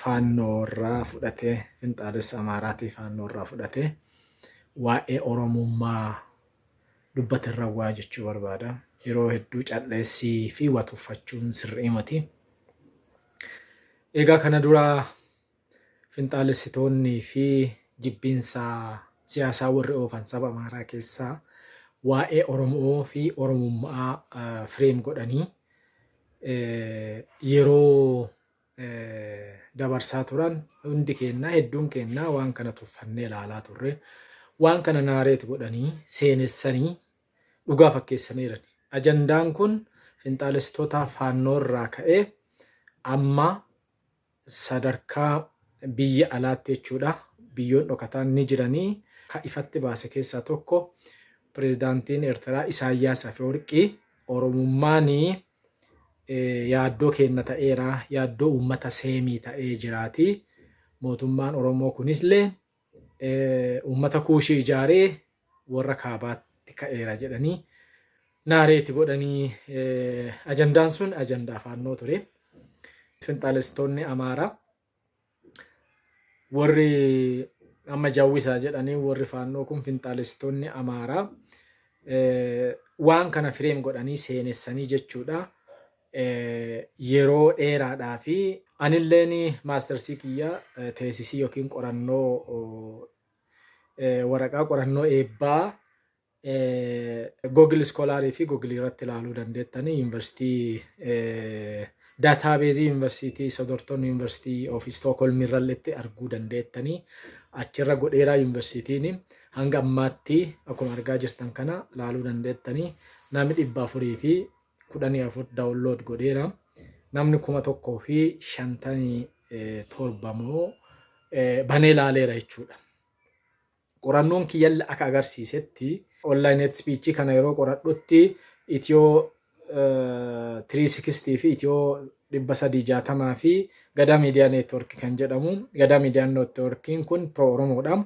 Faannoo irraa fudhatee, Finxaalessa Amaaraatii Faannoo irraa fudhatee waa'ee Oromummaa dubbate irra waa jechuu barbaada. Yeroo hedduu cal'eessii fi waa tuffachuun sirrii miti. Egaa kana dura finxaalessitoonnii fi jibbiinsa siyaasaa warri oofan saba Amaaraa keessaa waa'ee Oromoo fi Oromummaa fireem godhanii yeroo dabarsaa turan hundi keennaa hedduun keennaa waan kana tuffannee ilaalaa turre waan kana naareet godhanii seenessanii dhugaa fakkeessaniiran ajandaan kun finxaalessitoota faannoo irraa ka'ee amma sadarkaa biyya alaatti jechuudha biyyoon dhokataan ni jiranii ka ifatti baase keessaa tokko pirezidaantiin Eertiraa Isaayyaas Afeworqii Oromummaanii yaaddoo keenna ta'eera, yaaddoo uummata Seemii ta'ee jiraati. Mootummaan Oromoo kunisle uummata Kuushii ijaaree warra kaabaatti ka'eera jedhanii naareeti godhanii ajandaan sun ajandaa faannoo ture. Finxaaleessitoonni Amaaraa Warri amma jawwisaa jedhanii warri faannoo kun finxaalessitoonni Amaaraa waan kana fireem godhanii seenessanii jechuudha. Yeroo dheeraadhaa fi anilleen maastarsii kiyya teesisii yookiin qorannoo waraqaa qorannoo eebbaa Google Scholar fi Google irratti ilaaluu dandeettanii yuunivarsiitii daataabeezii yuunivarsiitii Sodorton yuunivarsiitii of Stockholm irralletti arguu dandeettanii achirra godheeraa yuunivarsiitiin hanga ammaatti akkuma argaa jirtan kana ilaaluu dandeettanii namni dhibba afurii fi kudhanii afur daawunlood godheera namni kuma tokkoo fi shantanii torba moo banee ilaaleera jechuudha. Qorannoon kiyyallee akka agarsiisetti online hate speech kana yeroo qoradhutti Ethio 360 fi Ethio 360 fi Gadaa Media Network kan jedhamu Gadaa Media Networkiin kun pro Oromoodha.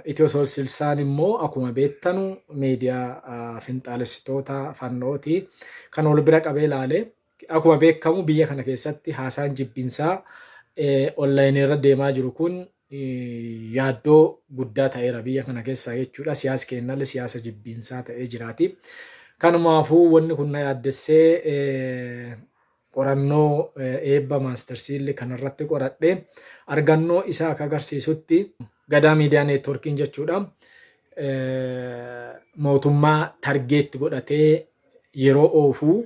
Ethio 360 immoo akkuma beektanu meediyaa finxaalessitoota fannooti kan wal bira qabee ilaalee Akkuma beekkamu biyya kana keessatti haasaan jibbinsaa online irra deemaa jiru kun yaaddoo guddaa ta'eera biyya kana keessaa jechuudha. Siyaas keennallee siyaasa jibbiinsaa ta'ee jiraati. Kanumaafuu wanni kun na yaaddessee qorannoo eebba maastarsiillee kanarratti qoradhe argannoo isaa akka agarsiisutti gadaa miidiyaa neetworkiin jechuudha. Mootummaa targeetti godhatee yeroo oofuu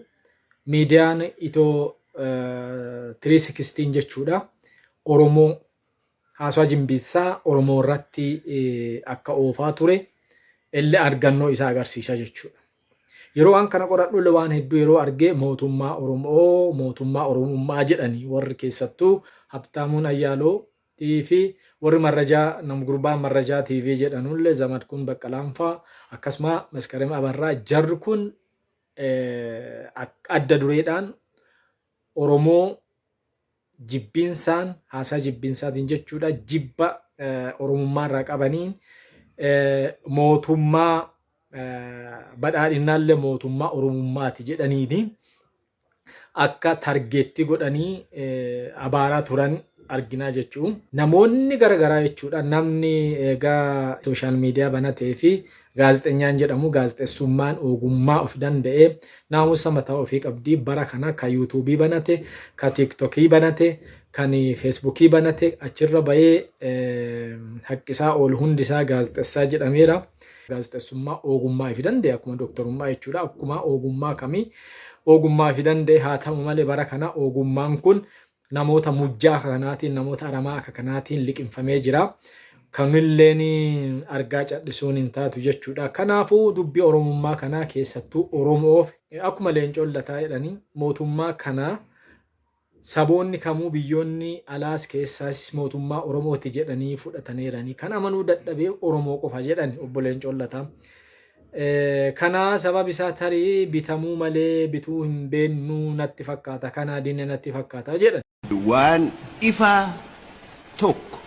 miidiyaan itoo 316 jechuudha Oromoo haasawaa jimbiissaa Oromoo irratti akka oofaa ture illee argannoo isaa agarsiisaa jechuudha. Yeroo waan kana qoradhu illee waan hedduu yeroo argee mootummaa Oromoo mootummaa Oromummaa jedhanii warri keessattuu Habtaamuun Ayyaaloo fi warri marrajaa nam gurbaan marrajaa TV jedhanullee Zamadkuun Baqqalaanfaa akkasuma Maskarem Abarraa jarri kun adda dureedhaan Oromoo jibbiinsaan haasaa jibbiinsaatiin jechuudha jibba Oromummaa irraa qabaniin mootummaa badhaadhinnaallee mootummaa Oromummaati jedhaniiti. akka targeettii godhanii abaaraa turan arginaa jechuu. Namoonni gara garaa jechuudha namni eegaa sooshaal miidiyaa banatee fi gaazexenyaan jedhamu gaazexessummaan ogummaa of danda'ee naamusa mataa ofii qabdii bara kana ka yuutuubii banate ka tiiktokii banate kan feesbuukii banate achirra bayee haqqisaa oolu hundisaa gaazexessaa jedhameera. Gaazexessummaa oogummaa ifi danda'e akkuma doktorummaa jechuudha. Akkuma oogummaa kamii oogummaa ifi danda'e haa ta'u malee bara kana oogummaan kun namoota mujjaa akka kanaatiin namoota aramaa akka kanaatiin liqimfamee jira. Kamilleen argaa cadhisuun hin taatu jechuudha. Kanaafuu dubbii Oromummaa kanaa keessattuu Oromoof akkuma leencoon lataa jedhanii mootummaa kanaa Saboonni kamuu biyyoonni alaas keessaasis mootummaa Oromooti jedhanii fudhataneerani. Kan amanuu dadhabe Oromoo qofa jedhani Obbo Leencoon Lataa. Kana sababi isaa tarii bitamuu malee bituu hin beennu natti fakkaata. Kanaa dinne natti fakkaata jedhan. Waan ifaa tokko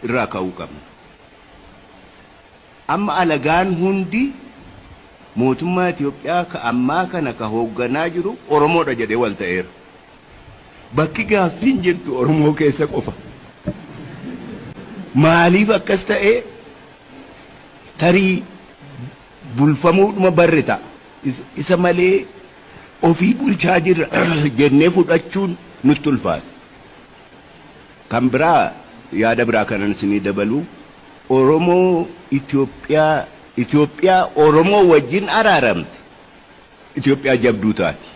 irraa ka'uu qabna. Amma alagaan hundi mootummaa Itoophiyaa ka ammaa kana ka hoogganaa jiru Oromoo dha jedhee wal ta'eera. Bakki gaaffiin jirtu Oromoo keessa qofa. Maaliif akkas ta'e? Tarii bulfamuudhuma barre ta'a. Isa malee ofii bulchaa jirra jennee fudhachuun nutti ulfaata. Kan biraa yaada biraa kanan isinii dabaluu. Oromoo Itoophiyaa Itoophiyaa Oromoo wajjin araaramte Itoophiyaa jabduu taati.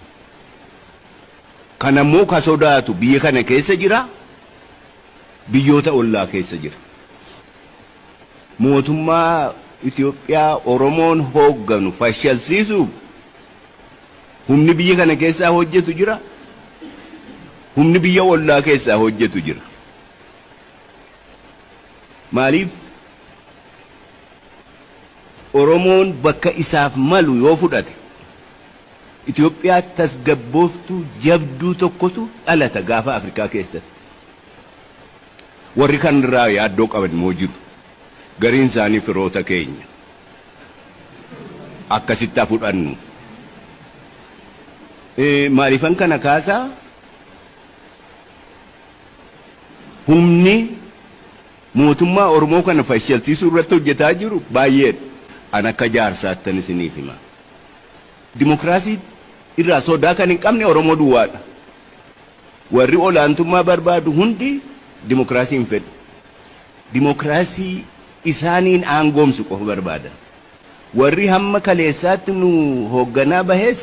Kana immoo ka sodaatu biyya kana keessa jira, biyyoota ollaa keessa jira. Mootummaa Itoophiyaa Oromoon hoogganu fashalsiisuuf humni biyya kana keessaa hojjetu jira, humni biyya ollaa keessaa hojjetu jira. Maaliif Oromoon bakka isaaf malu yoo fudhate Itoophiyaa tasgabbooftuu jabduu tokkotu dhalata gaafa Afrikaa keessatti. Warri kan irraa yaaddoo qaban immoo jiru. Gariin isaanii firoota keenya. Akkasitti haa fudhannu. Maaliifan kana kaasaa? humni mootummaa Oromoo kana fashalsiisuu irratti hojjetaa jiru baay'eedha. An akka jaarsaattan isiniif hima. Dimokiraasii irraa sodaa kan hin qabne Oromoo duwwaadha. Warri olaantummaa barbaadu hundi dimokiraasii hin fedhu. Dimokiraasii isaaniin aangoomsu qofa barbaadan. Warri hamma kaleessaatti nu hoogganaa bahes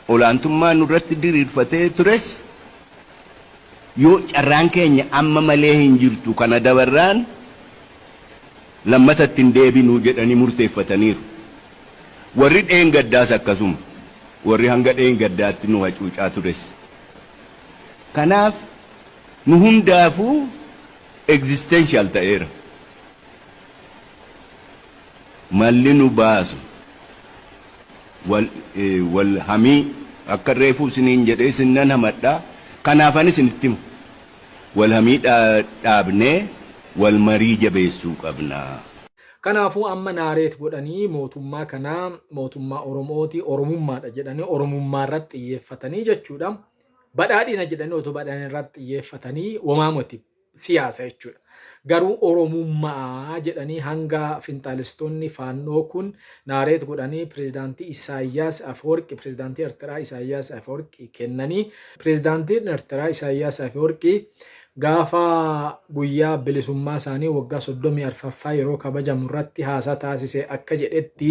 olaantummaa nurratti diriirfatee tures Yoo carraan keenya amma malee hin jirtu kana dabarraan lammata itti hin deebinu jedhanii murteeffataniiru. Warri dheengaddaas akkasuma. Warri hanga dheengaddaatti nu hacuucaa tures. Kanaaf nu hundaafuu existential ta'eera. malli nu baasu wal hamii akka reefuu isiniin jedhee isin nan hamadha kanaafan isinitti himu wal hamii dhaabnee wal marii jabeessuu qabna. Kanaafuu amma naareet godhanii mootummaa kana mootummaa Oromooti Oromummaadha jedhanii Oromummaa irratti xiyyeeffatanii jechuudha. Badhaadhina jedhanii otoo badhaadhina irratti xiyyeeffatanii womaa moti. siyaasa jechuudha. Garuu Oromummaa jedhanii hanga finxaalistoonni faannoo kun naareet godhanii pirezidaantii Isaayyaas Afeworqi pirezidaantii Ertiraa Isaayyaas Afeworqi kennanii pirezidaantiin Ertiraa Isaayyaas Afeworqi gaafa guyyaa bilisummaa isaanii waggaa 34ffaa yeroo kabajamu irratti haasaa taasise akka jedhetti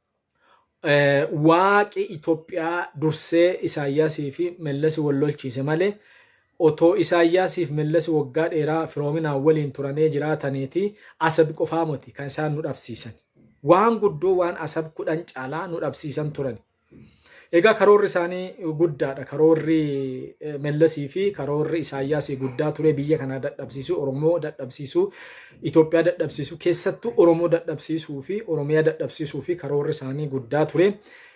Waaqi Itoophiyaa dursee Isaayyaasii fi Mellasi wal lolchiise malee, otoo Isaayyaasii fi Mellasi waggaa dheeraa firoominaan waliin turanee jiraataneeti Asab qofaa moti kan isaan nu dhabsiisani. Waan guddoo waan Asab kudhan caalaa nu dhabsiisan turani. Egaa karoorri isaanii guddaadha. Karoorri eh, Mellasii fi karoorri Isaayyaasii guddaa ture biyya kanaa dadhabsiisuu, Oromoo dadhabsiisuu, Itoophiyaa dadhabsiisuu, keessattuu Oromoo dadhabsiisuu fi Oromiyaa dadhabsiisuu fi karoorri isaanii guddaa ture.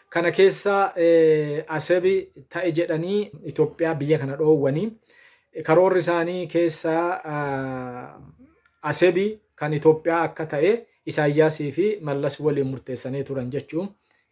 Kana keessa eh, Asebi ta'e jedhanii Itoophiyaa biyya kana dhoowwanii karoorri isaanii keessa ah, Asebi kan Itoophiyaa akka ta'e Isaayyaasii fi Mallas waliin murteessanii turan jechuun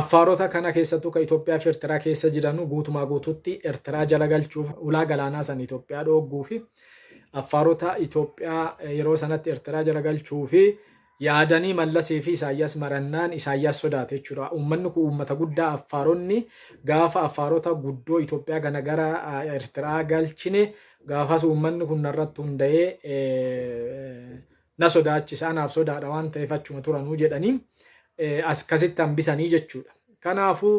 Affaarota kana keessattuu ka Itoophiyaa fi Ertiraa keessa jiranu guutumaa guutuutti Ertiraa jala galchuuf ulaa galaanaa san Itoophiyaa dhoogguu fi Affaarota Itoophiyaa yeroo sanatti Ertiraa jala galchuu fi yaadanii Mallasii fi Isaayyaas marannaan Isaayyaas sodaate jechuudha. Uummanni kun uummata guddaa Affaaronni gaafa Affaarota guddoo Itoophiyaa kana gara Ertiraa galchine gaafas uummanni kun narratti hunda'ee na sodaachisa anaaf sodaadha waan ta'eef achuma turanuu jedhanii as kasitti hambisanii jechuudha. Kanaafuu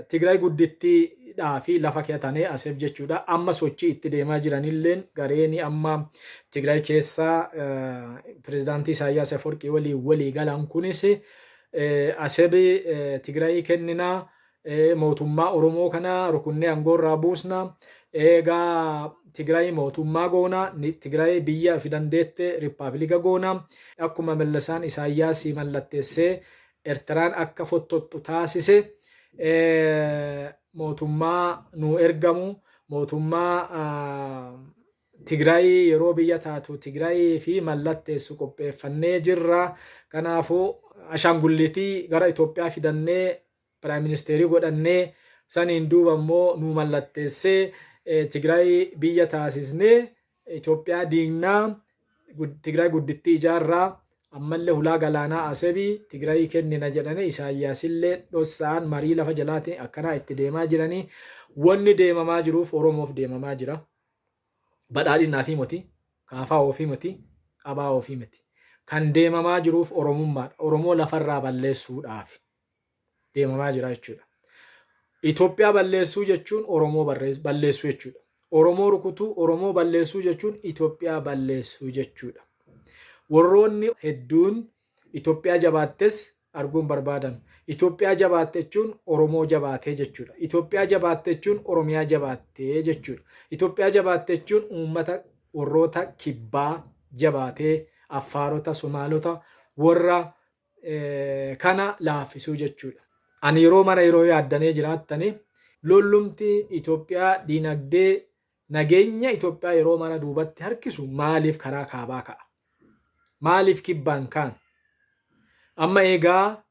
Tigraay guddittiidhaa fi lafa keetanee aseef jechuudha. Amma sochii itti deemaa jiranilleen gareen amma Tigraay keessa pirezidaantii Isaayyaas Afawarqii waliin walii galan kunis asebi Tigraayii kenninaa Ee mootummaa Oromoo kana rukunnee aangoo irraa buusna. Eegaa Tigraay mootummaa goona. Ni- Tigraay biyya fi dandeette rippaabilika goona. Akkuma Mallasaan Isaayyaas mallatteessee Ertiraan akka fottottu taasise ee, mootummaa nuu ergamu mootummaa ah, Tigraay yeroo biyya taatu Tigraay fi mallatteessu qopheeffannee jirra. Kanaafuu ashaangulliitii gara Itoophiyaa fidannee Prime Minister godhannee saniin duuba immoo nuu mallatteessee Tigraay biyya taasisnee Itoophiyaa diignaa Tigraay guddittii ijaarraa ammallee hulaa galaanaa Asebi Tigraayii kennina jedhanii Isaayyaasillee dhossa'aan marii lafa jalaatiin akkanaa itti deemaa jiranii wanni deemamaa jiruuf Oromoof deemamaa jira. Badhaadhinaa fi moti, kaafaa ofii moti, abaa ofii miti. Kan deemamaa jiruuf Oromummaadha. Oromoo lafarraa balleessuudhaafi. deemamaa jira jechuudha. Itoophiyaa balleessuu jechuun Oromoo balleessuu jechuudha. Oromoo rukutuu, Oromoo balleessuu jechuun Itoophiyaa balleessuu jechuudha. Warroonni hedduun Itoophiyaa jabaattes arguun barbaadan. Itoophiyaa jabaatte jechuun Oromoo jabaatee jechuudha. Itoophiyaa jabaatte jechuun Oromiyaa jabaattee jechuudha. Itoophiyaa jabaatte jechuun uummata warroota kibbaa jabaatee Affaarota, Somaalota warra kana laaffisuu jechuudha. Ani yeroo mara yeroo yaaddanee jiraattanii lollumti Itoophiyaa diinagdee nageenya Itoophiyaa yeroo mara duubatti harkisu maaliif karaa kaabaa ka'a? Maaliif kibbaan kaan? Amma eegaa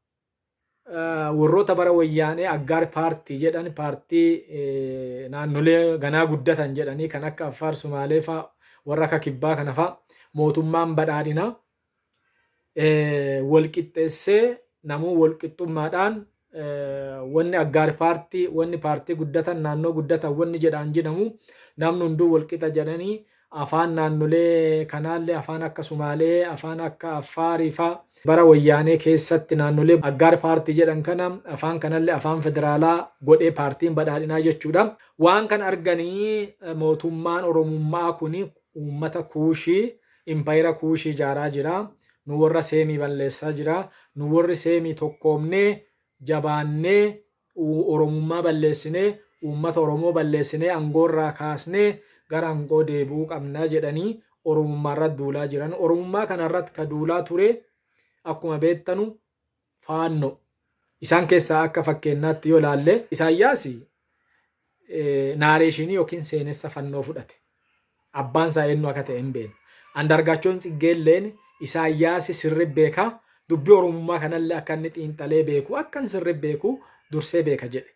warroota bara wayyaanee aggaar paartii jedhan paartii naannolee ganaa guddatan jedhanii kan akka Affaar Sumaalee faa warra akka kibbaa kana faa mootummaan badhaadhinaa wal qixxeessee namuu wal qixxummaadhaan wanni aggaar paartii wanni paartii guddatan naannoo guddatan wanni jedhaan jedhamu namni hunduu wal qixa jedhanii afaan naannolee kanaallee afaan akka Sumaalee afaan akka Affaarii faa bara wayyaanee keessatti naannolee aggaar paartii jedhan kana afaan kanallee afaan federaalaa godhee paartiin badhaadhinaa jechuudha. Waan kan arganii mootummaan Oromummaa kun uummata kuushii Impayera Kuushii ijaaraa jira. Nu worra Seemii balleessaa jira. Nu worri Seemii tokkoomnee, jabaannee, Oromummaa balleessinee, uummata Oromoo balleessinee angoo irraa kaasnee gara angoo deebi'uu qabna jedhanii Oromummaa irratti duulaa jiran. Oromummaa kana irratti ka duulaa ture akkuma beettanu Faanno. Isaan keessaa akka fakkeennaatti yoo ilaalle Isaayyaas naareeshiinii yookiin seenessa fannoo fudhate. Abbaan isaa eenyu akka ta'e hin beeknu. Andaargaachoon Tsiggeelleen Isaayyaas sirri beeka, dubbii Oromummaa kanallee akka inni xiinxalee beeku, akkan sirri beeku dursee beeka jedhe.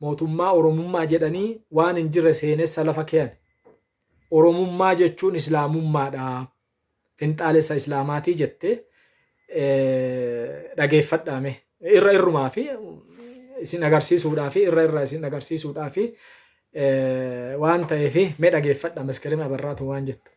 Mootummaa Oromummaa jedhanii waan hin jirre seenessa lafa keyan. Oromummaa jechuun Islaamummaadha. Finxaalessa Islaamaatii jette dhageeffadhaa mee. Irra irrumaa fi isin agarsiisuudhaa fi irra irra isin agarsiisuudhaa fi waan ta'eef mee dhageeffadha Maskirim Abarraatu waan jettu.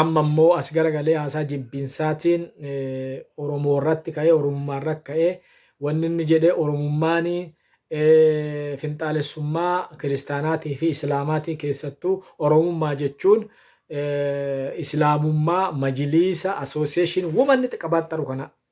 Amma immoo as garagalee haasaa jibbinsaatiin Oromoo irratti ka'ee Oromummaa irratti ka'ee wanni inni jedhe Oromummaan finxaalessummaa kiristaanaatii fi Islaamaatii keessattuu Oromummaa jechuun Islaamummaa majiliisa association woman qabaatteru kana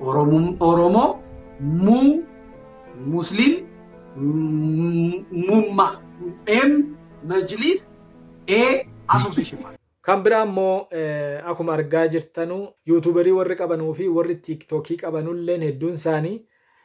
Oromum Oromoo muu Muslim mumma m majlis a association. Kan biraa immoo eh, akkuma argaa jirtanu yuutuuberii warri qabanuu fi warri tiiktookii qabanulleen hedduun isaanii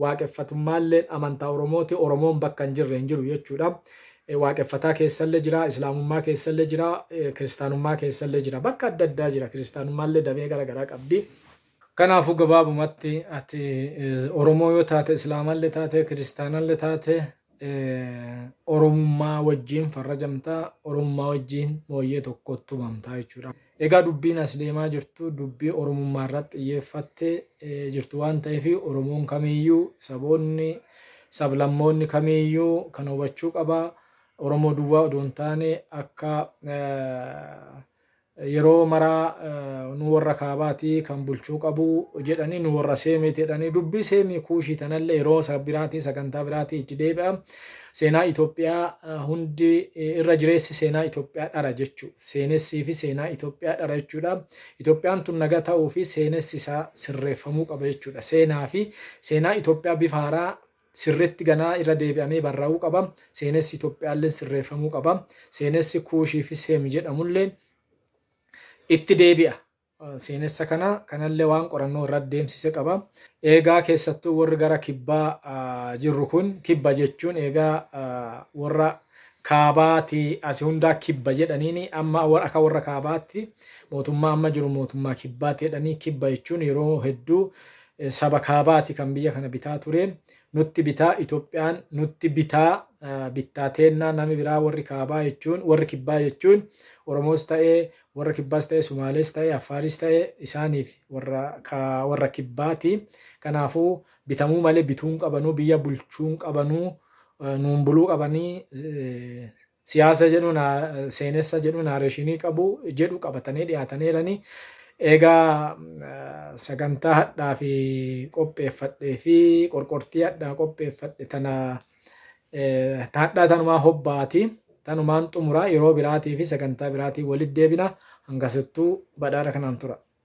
Waaqeffatummaalleen amantaa Oromooti. Oromoon bakka hin jirre hin jiru jechuudha. Waaqeffataa keessallee jira, Islaamummaa keessallee jira, Kiristaanummaa keessallee jira. Bakka adda addaa jira. Kiristaanummaallee damee gara garaa qabdi. Kanaafuu gabaabumatti ati Oromoo yoo taate, Islaamallee taate, Kiristaanallee taate, Oromummaa wajjiin farrajamta, Oromummaa wajjiin mooyyee tokkoot tumamta jechuudha. Egaa dubbiin as deemaa jirtu dubbii Oromummaa irratti xiyyeeffatte jirtu waan ta'eef Oromoon kamiiyyuu, saboonni, sablammoonni kamiiyyuu kana hubachuu qaba. Oromoo duwwaa odoo hin taane akka Yeroo mara nu worra kaabaati kan bulchuu qabu jedhanii nu worra seemiiti jedhanii dubbii seemii kuushii tanallee yeroo isa biraatii sagantaa biraatii itti deebi'a. Seenaa Itoophiyaa hundi irra jireessi seenaa Itoophiyaa dhara jechuu seenessii fi seenaa Itoophiyaa dhara jechuudha. Itoophiyaan tun naga ta'uu fi seenessi isaa sirreeffamuu qaba jechuudha. Seenaa fi seenaa Itoophiyaa bifa haaraa sirritti ganaa irra deebi'amee barraa'uu qaba. Seenessi Itoophiyaalleen sirreeffamuu qaba. Seenessi Kuushii fi Seem jedhamulleen itti deebi'a. Seenessa kana kanallee waan qorannoo irratti deemsise qaba. Eegaa keessattuu warri gara kibbaa jirru kun kibba jechuun eegaa warra kaabaati asi hundaa kibba jedhaniin amma akka warra kaabaatti mootummaa amma jiru mootummaa kibbaati jedhanii kibba jechuun yeroo hedduu saba kaabaati kan biyya kana bitaa ture nutti bitaa Itoophiyaan nutti bitaa bittaa teennaa nami biraa warri kaabaa jechuun warri kibbaa jechuun Oromoos ta'ee warra kibbaas ta'ee Sumaalees ta'ee Affaaris ta'ee isaaniif warra warra kibbaati kanaafuu bitamuu malee bituun qabanuu biyya bulchuun qabanuu nuun buluu qabanii siyaasa jedhu naa- seenessa jedhu naareeshinii qabu jedhu qabatanii dhiyaataniiranii eegaa eh, sagantaa hadhaa fi qopheeffadhee fi qorqortii hadhaa qopheeffadhe tana eh, ta hadhaa tanumaa hobbaati tanumaan xumuraa yeroo biraatii fi sagantaa biraatii walitti deebina hangasittuu badhaadha kanaan tura.